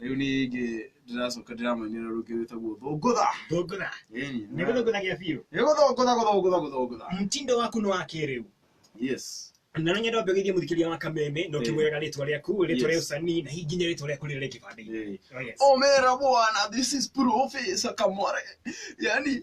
rĩu niĩ ingĩ ndĩracoka ndĩramainĩra rũngĩ rwĩtagwo thũngũtha thũngũtha Ĩni, nĩ gũthũngũthagia biũ nĩ gũthũngũtha gũthũngũtha gũthũngũtha mtindo waku nĩ wa kĩrĩu yes na no nyenda mbegithie mũthikĩria wa kameme no Eh. kĩmwĩraga rĩtwa rĩaku rĩtwa rĩa Yes. ũcani na hihi nginya rĩtwa rĩaku rĩrĩa rĩ kĩbandĩ-inĩ Eh. Oh, yes. omera bwana this is profesa kamware yani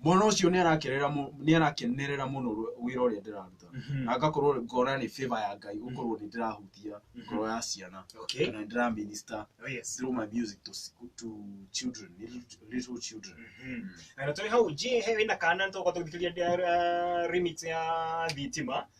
mwana ũcio nĩ arakenerera mũ- nĩ arakenerera mũno rũ- wĩra ũrĩa ndĩraruta Mhm. na ngakorwo ngona nĩ favor ya ngai gũkorwo nĩ ndĩrahutia ngoro ya ciana Okay. kana nĩ ndĩraminista Oh, yes. through my music to, s- to children little, little children Mhm. na tå hau njä he wä na kana tåka tå thikä ria remix ya thitima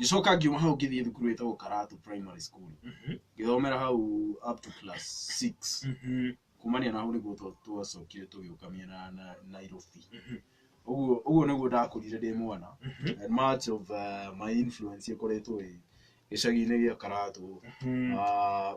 ngĩcoka ngiuma hau ngĩthiĩ thukuru ĩtagwo karatu primary school Mhm. ngĩthomera hau up to class six Mhm. kumania na hau nĩguo twa- twacokire tũgĩũka mĩena ya na- nairobi Mhm. ũguo ũguo nĩguo ndakũrire ndĩ mwana Mhm. and much of uh, my influence ĩkoretwo ĩ gĩcagi-inĩ gĩa karatu Mhm. Ah,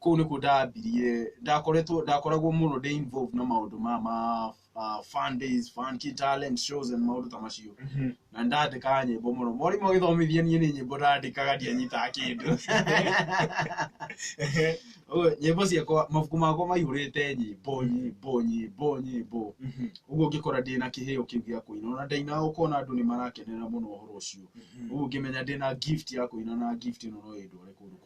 Kũu nĩkuo ndambirie, ndakoretwo, ndakoragwo mũno ndĩ involved na maũndũ ma ma uh, fan days, fan key talent shows and maũndũ ta macio. Na ndandĩkaga nyĩmbo mũno. Mwarimũ agĩthomithia niĩ nĩ nyĩmbo ndandĩkaga ndianyitaga kĩndũ. Ũguo, nyĩmbo ciakwa, mabuku makwa maihũrĩte nyĩmbo, nyĩmbo, nyĩmbo, nyĩmbo. Ũguo ngĩkora ndĩ na kĩheo kĩu gĩa kũina. Ona ndaina ũkona andũ nĩ marakenera mũno ũhoro ũcio. Ũguo ngĩmenya ndĩ na gift ya kũina na gift ĩno no ĩndware kũndũ kũnene.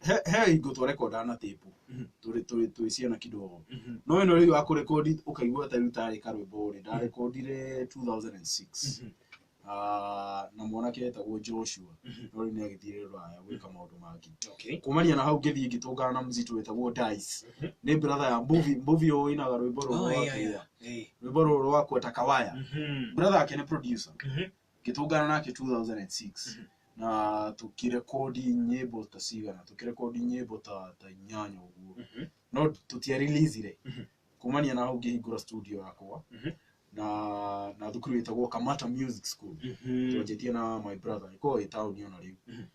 he he ingo twa rekonda na tape Mhm. tũrĩ tũrĩ twĩ ciana kidogo Mhm. no ĩno rĩu ya kũrekondi ũkaigua ta rĩu tarĩ karwĩmbo rĩ ndarekondire 2006 Mhm. Ah, na mwanake etagwo joshua Mhm. no rĩu nĩ agĩthire rũraya gwĩka maũndũ mangĩ Okay. kumania na hau ngĩthiĩ ngĩtũngana na mzito wetagwo dice Mhm. nĩ brother ya mbuvi mbuvi ũinaga rwĩmbo rũrũ Oh, yeah, rwakua yeah. Eh. rwĩmbo rũrũ rwakua takawaya Mhm. brother ake nĩ producer Mhm. ngĩtũngana nake 2006 na tũkĩrekondi nyĩmbo ta cigana tũkĩrekondi nyĩmbo ta ta inyanya ũguo Mhm. no tũtiarelizire Mhm. kumania na hau ngĩhingũra studio yakwa Mhm. na na thukuru ĩtagwo kamata music school Mhm. twanjĩtie na my brother ĩkoragwo ĩ taũni ona rĩu Mhm.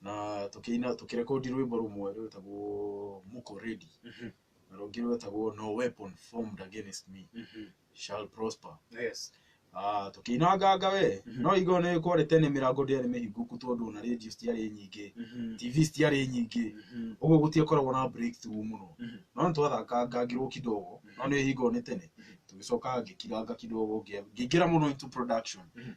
na tũkĩina tũkĩrekondi rwĩmbo rũmwe rwĩtagwo muko ready Mhm. na rũngĩ rwĩtagwo no weapon formed against me Mhm. shall prosper Yes. Ah, tũkĩinanganga we Mhm. no igo nĩ kwarĩ tene mĩrango ndĩarĩ mĩhingũku tondũ na radio citiarĩ nyingĩ Mhm. tv citiarĩ nyingĩ Mhm. ũguo gũtiakoragwo na breakthrough mũno Mhm. no nĩ twathakangangirwo kidogo no nĩ hingo nĩ tene Mhm. tũgĩcoka ngĩkiranga kidogo ngĩa- ngĩingĩra mũno into production Mhm.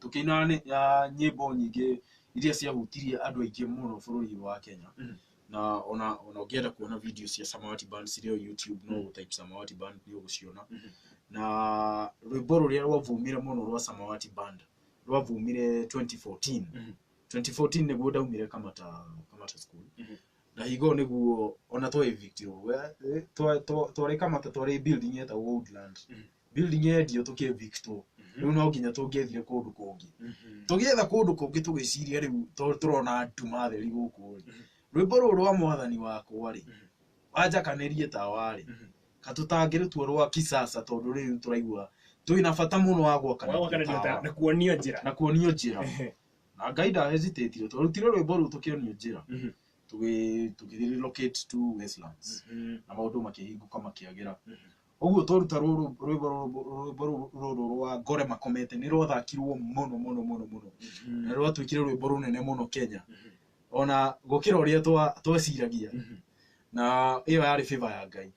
tũkĩinaga nĩ- ah, nyĩmbo nyingĩ iria ciahutirie andũ aingĩ mũno bũrũri wa kenya Mm. na ona ona ũngĩenda kuona video cia samawati band cirĩ o youtube no Mm. type samawati band nĩ ũgũciona Mhm. na rwĩmbo rũrĩa rwavumire mũno rwa samawati band rwavumire 2014 Mhm. 2014 nĩguo ndaumire kamata kamata school Mhm. na higo nĩguo ona twa evictirwo We- eh, twa- twa- twarĩ kamata twarĩ building yetagwo woodland Mhm. building yendio tũkĩvictwo rĩu no nginya tũngĩethire kũndũ kũngĩ tũgĩetha kũndũ kũngĩ tũgĩciria rĩu to tũrona nduma theri gũkũ rĩ rwĩmbo rũrũ rwa mwathani wakwa rĩ wanjakanĩrie tawa rĩ katũtangĩrĩtua rwa kisasa tondũ rĩu tũraigua twĩna bata mũno wa gwakanĩria wakanĩria ta tawa na kuonio njĩra na kuonio njĩra na ngai nda hesitate twarutire rwĩmbo rũu tũkĩonio njĩra Mhm. tũgĩ- tũgĩrelocate to westlands Mhm. na maũndũ makĩhingũka makĩagĩra Mhm. Ũguo twaruta rũrũ rwĩmbo rũrũ- rwĩmbo rũrũ rũrũ rwa ngore makomete nĩ rwathakirwo mũno mũno mũno mũno na rwatuĩkire rwĩmbo rũnene mũno kenya ona gũkĩra ũrĩa twa- tweciragia na ĩyo yarĩ favor ya ngai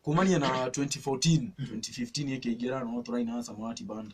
kumania na 2014 2015 ĩkĩingĩra no tũraina na samawati band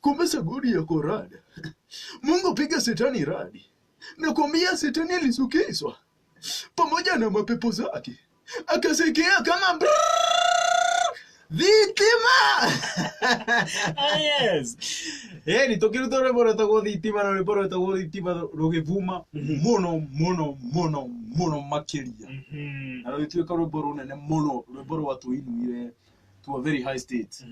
Kumbe sagodi yako rada. Mungu piga shetani radi. Nakwambia shetani alisukizwa pamoja na mapepo zake, akasikia kama brrrr, thitima Ah, yes Eh, ni tokiri to rwimbo rwetagwo thitima na rwimbo rwetagwo thitima rũgĩthuma mũno mũno mũno mũno makĩria na rũgĩtuĩka rwimbo rũnene mũno rwimbo rwatũinuire to a very high state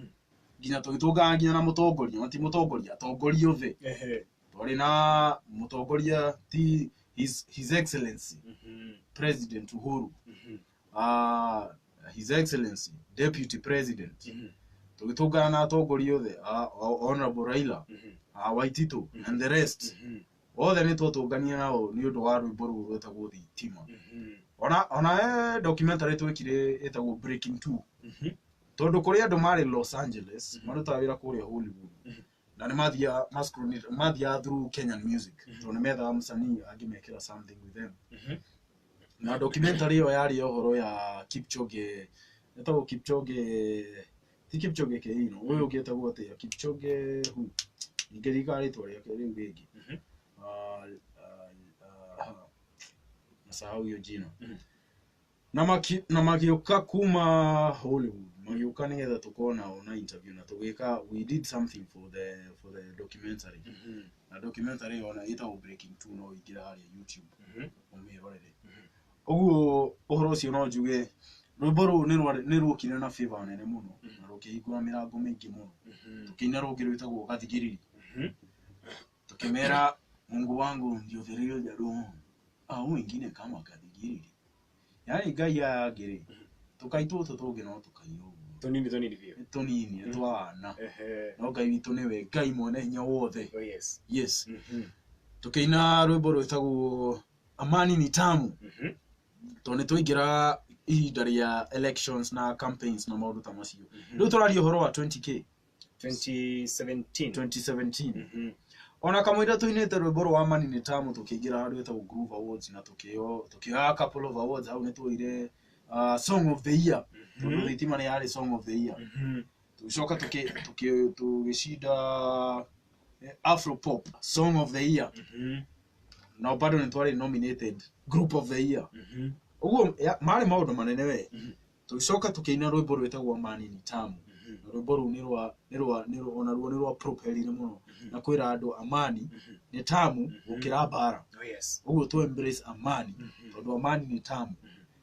nginya tũgĩtũngana nginya na mũtongoria ona ti mũtongoria atongoria othe Ehe. twarĩ na mũtongoria ti his, his excellency Mhm. president uhuru Mhm. uh, his excellency deputy president Mhm. tũgĩtũngana na atongoria othe uh, honorable raila Mhm. uh, waitito and the rest Mhm. othe nĩ twotũnganie na o nĩ ũndũ wa rwĩmbo rũrũ rwetagwo thitima ona ona he documentary twekire ĩtagwo breaking two tondũ kũrĩ andũ marĩ los angeles Mhm. marutaga wĩra kũrĩa hollywood Mhm. na nĩ mathiaga mascreen- mathiaga through kenyan music Mhm. tondũ nĩ methaga msanii angĩmekĩra something with them na documentary ĩyo yarĩ ya ũhoro ya kipchoge ĩtagwo kipchoge ti kipchoge keino ũyũ ũngĩ etagwo atĩa kipchoge who? ningĩ rika rĩtwa rĩake rĩu rĩngĩ Mhm. Ah, ah, ah, nasahau hiyo jina Mhm. na maki- na magĩũka kuma hollywood magĩũka nĩgetha tũkona ona interview na tũgĩka we did something for the for the documentary Mhm. na documentary ona ĩtagwo breaking two no ingĩra harĩa youtube Mhm. ũmĩrorere Mhm. Ũguo ũhoro ũcio no njuge rwĩmbo rũrũ nĩ rwa- nĩ rwokire na favor nene mũno na rũkĩhingũra mĩrango mĩingĩ mũno tũkĩina rũngĩ rwĩtagwo gathigiriri tukimera mungu wangu ndio vilio vya roho au wengine kama kathigiriri yaani ngai aya angĩ rĩ tũkai tũtũ tũngĩ no tũkai ũguo Tonini tonini biũ. nĩ tũnini nĩ twana Ehe. no ngai witũ nĩwe ngai mwene hinya wothe Oh yes. yes Mhm. tũkĩina rwĩmbo rwĩtagwo Amani ni tamu Mhm. tondũ nĩ twaingĩra ihinda rĩa elections na campaigns na maũndũ ta macio rĩu tũraria ũhoro wa 20k 2017 2017 Mhm. ona kamũira tũinĩte rwĩmbo rwa Amani ni tamu tũkĩingĩra handũ hetagwo Groove Awards na tũkĩo tũkĩoya couple of awards hau nĩ tuoire uh, song of the year tondũ thitima nĩ yarĩ song of the year Mhm. tũgĩcoka tũkĩ- tũkĩ- tũgĩcinda eh, afro pop song of the year Mhm, na bado nĩ twarĩ nominated group of the year mhm, ũguo ya- marĩ maũndũ manene we Mhm. tũgĩcoka tũkĩina rwĩmbo rwĩtagwo mani ni tamu mhm, na rwĩmbo rũu nĩ rwa nĩ rwa nĩ rwa- ona ruo nĩ rwa propelire mũno Mhm. na kwĩra andũ amani mhm. nĩ tamu Mhm. gũkĩra mbara Oh, yes. ũguo tu embrace amani Mhm. tondũ amani nĩ tamu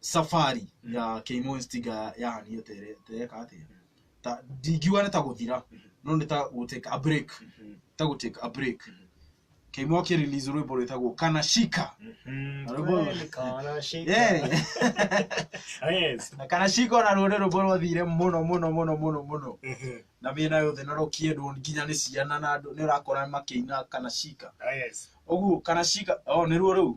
safari ya keimo instiga ya- yahanire tere- tereka atia ta ndingiuga nĩ ta gũthira no nĩ ta gũtake a break ta gũtake a break keimo akĩrelease rwĩmbo rwĩtagwo kana shika Kweli kana shika. Yeah. Yes. na kana shika ona rũrĩ rwĩmbo rwathire mũno mũno mũno mũno mũno na mĩena yothe na rũkĩendwo nginya nĩ ciana na andũ nĩ ũrakora makĩina kana shika Yes. ũguo kana shika o nĩruo rĩu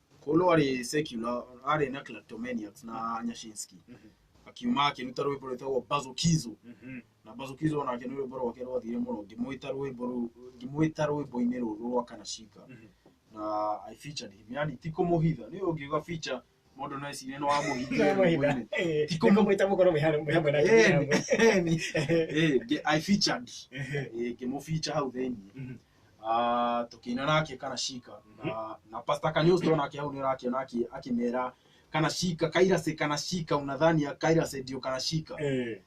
Kolo arĩ secular, arĩ na Kleptomaniacs na Nyashinsky. Akiuma akĩruta rwĩmbo rwĩtagwo Bazokizo. Na Bazokizo onake nĩ rwĩmbo rwake rwathire mũno. Ngĩmwĩta rwĩmbo rũu, ngĩmwĩta rwĩmbo-inĩ rũrũ rwa Kanashika. Na I featured him. Yani ti kũmũhitha. Nĩ ũngiuga feature mũndũ no ecirie nĩ wamũhithire rwĩmbo-inĩ. Ndikomwĩta mũkorwo mwĩ hamwe- mwĩ hamwe na atumia amwe. Eh, nge- I featured. Eh, ngĩmũ feature hau thĩinĩ. Ah, tũkĩina nake kana cika Mhm. na, na pasta kanyũs to nake hau nĩũrakĩona akĩ- akĩmera kana cika kairase kana cika unadhani ya kairase ndio kana cika Eh.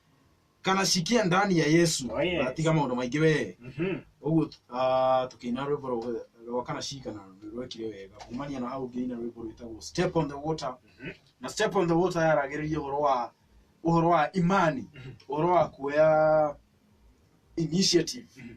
kana cikia ndani ya yesu Oh, yes. tiga maũndũ maingĩ wee Mhm. ũguo ah, tũkĩina rwĩmbo rwa- rwa kana cika na rwekire wega kumania na hau ngĩina rwĩmbo rwĩtagwo step on the water Mhm. na step on the water yaragĩrĩria ũhoro wa ũhoro wa imani Mhm. ũhoro wa kuoya initiative Mhm.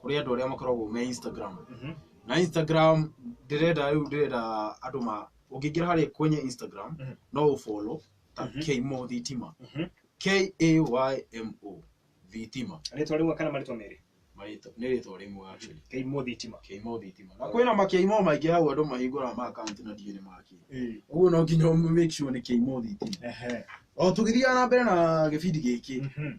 kũrĩ andũ arĩa makoragwo me instagram Mhm. na instagram ndĩrenda rĩu ndĩrenda andũ ma ũngĩingĩra harĩ kwenye instagram Mhm. no ũbolo ta Mhm. kmo thitima Mhm. k-a-y-m-o thitima rĩtwa rĩmwe kana marĩtwa merĩ Marĩtwa- nĩ rĩtwa rĩmwe actually keimũ thitima kmo thitima na kwĩna makmo maingĩ hau andũ mahingũraga ma akaunti na ndiĩ nĩ maki ũguo no nginya ũmĩ- make sure nĩ kmo thitima Ehe. o tũgĩthiaga na mbere na gĩbindi gĩkĩ Mhm.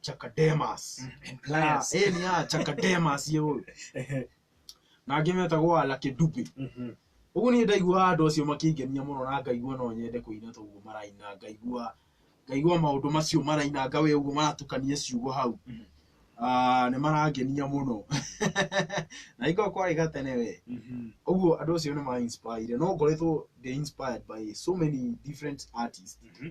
chakademas and Ah, pliers eh, ni a chakademas ye ũyũ Ehe. na angĩ metagwo ala kĩdubi Mhm. ũguo nĩ ndaiguaga andũ acio makĩngenia mũno na ngaigua no nyende kũina toguo maraina ngaigua ngaigua maũndũ macio maraina nga we ũguo maratukania ciugo hau Mhm. Ah, nĩ marangenia mũno na ingo kwarĩ gatene we Mhm. ũguo andũ acio nĩ ma inspire no ngoretwo ndĩ inspired by so many different artists Mhm.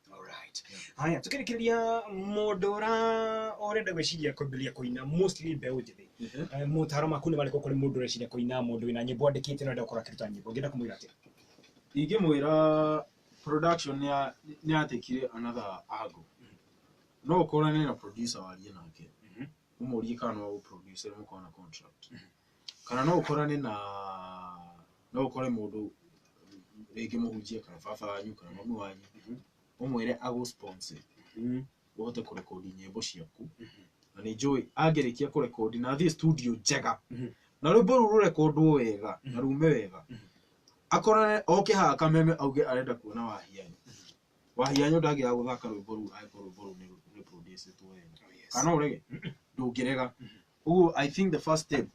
Alright. Haya, tũkĩrĩkĩrĩria mũndũ ũra ũrenda gwĩciria kwambĩrĩria kũina mostly mbeũ njĩthĩ. Eh, Motaro maku nĩ marĩkũ kũrĩ mũndũ ũreciria kũina mũndũ wĩna nyĩmbo andĩkĩte na ũrenda gũkorwo akĩruta nyĩmbo. Ũngĩenda kũmwĩra atĩa? ingĩmwĩra production nĩ ya- nĩ yatĩkire another angle no ũkorane na producer warie nake Mhm. ũmũrie kana no agũproducer mũkorwo na contract kana no ũkorane na no ũkore mũndũ rĩngĩ mũhunjia kana baba wanyu kana mami wanyu ũmwĩre agũ sponsor Mm. ũhote kũrekodi nyĩmbo ciaku na nĩ njũĩ angĩrĩkia kũrekodi na athiĩ studio njega Mhm. na rwĩmbo rũu rũrekondwo wega na rume wega akorane oke haha kameme auge arenda kuona wahianyo wahianyo ndangĩaga gũthaka rwĩmbo rũu angĩkorwo rwĩmbo rũu nĩ- nĩ producĩtwo wega Oh, yes. kana ũrege ndũngĩrega ũguo i think the first step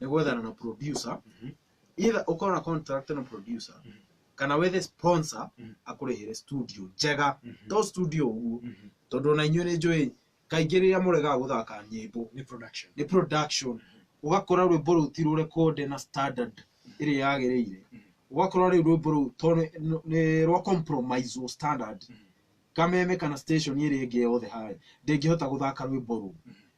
nĩ gwethana na producer Mhm. either ũkorwo na contract na producer Mhm. kana wethe sponsor Mhm. akũrĩhĩre studio njega Mhm. to studio ũguo Mhm. tondũ ona inyuĩ nĩ njũĩ kaingĩ rĩrĩa mũregaga gũthaka nyĩmbo Nĩ production. nĩ production ũgakora rwĩmbo rũu ti rũrekode na standard ĩrĩa yagĩrĩire ũgakora rĩu rwĩmbo rũu to nĩ- nĩ- nĩ rwa compromise wo standard kameme kana station ĩrĩa ĩngĩ yothe harĩ ndĩngĩhota gũthaka rwĩmbo rũu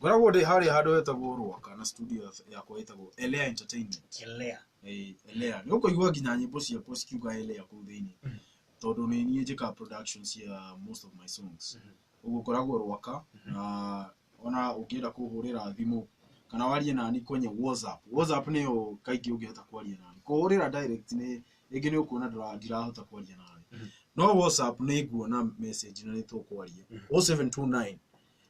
ngoragwo ndĩ harĩa handũ hetagwo rwaka na studio yakwa ĩtagwo elea entertainment Elea. Eh, elea nĩ ũkũigua nginya nyĩmbo ciakwa cikiuga elea kũu thĩinĩ Mhm. tondũ nĩ niĩ njĩkaga production cia most of my songs Mhm. ũguo ngoragwo rwaka Mhm. na ona ũngĩenda kũhũrĩra thimũ kana warie nani kwenye whatsapp whatsapp nĩyo kaingĩ ũngĩhota kwaria nani kũhũrĩra direct nĩ rĩngĩ nĩ ũkuona ndĩra- ndirahota kwaria nani Mhm. no whatsapp nĩ nguona message na nĩ tũkwaria Mhm. 0729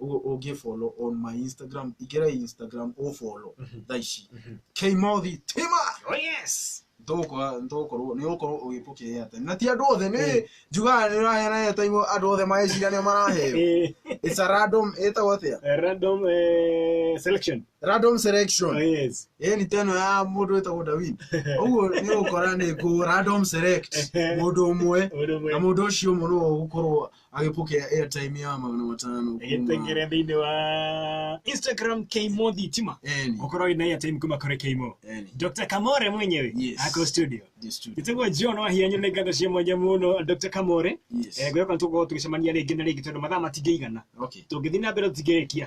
ũngĩ follow on my instagram ingĩra instagram ũ follow thaa ici kmothi tima Oh yes. ndũgũkorwo nĩ ũgũkorwo ũgĩpokea atĩ na ti andũ othe nĩ njugaga nĩ ũraheana airtime andũ othe maecira nĩo maraheo Eh, it's a random ĩtagwo atĩa a random eh, selection. random Oh selection yes. ĩni teno ya mũndũ ĩtagwo Dawin ũguo nĩ ũgũkora nĩ ngũ random select mũndũ ũmwe Ũndũ ũmwe. na mũndũ ũcio ũmwe nĩwe ũgũkorwo agĩpokea airtime ya magana matano kuma- gĩtengere thĩinĩ wa instagram kmo thitima Eni, ũkorwo wĩna airtime kuma kũrĩ kmo eni, dr kamore mwenyewe Yes. ako studio the studio. nĩtagwo john wahianyo nĩ ngatho cia mwanya mũno dr kamore Yes. ngwĩhoka nĩ tũgũkorwo tũgĩcemania rĩngĩ na rĩngĩ tondũ mathaa matingĩigana Okay. tũngĩthiĩ na mbere tũtingĩrĩkia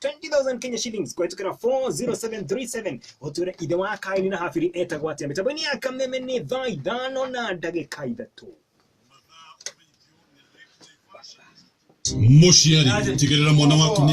20,000 Kenya shillings kũhĩtũkĩra 40737 ũtwĩre ithe wa kaini na habiri etagwo atĩa mĩtambo-inĩ ya kameme nĩ thaa ithano na ndagĩka ithatũ muciari tigirira mwana waku ni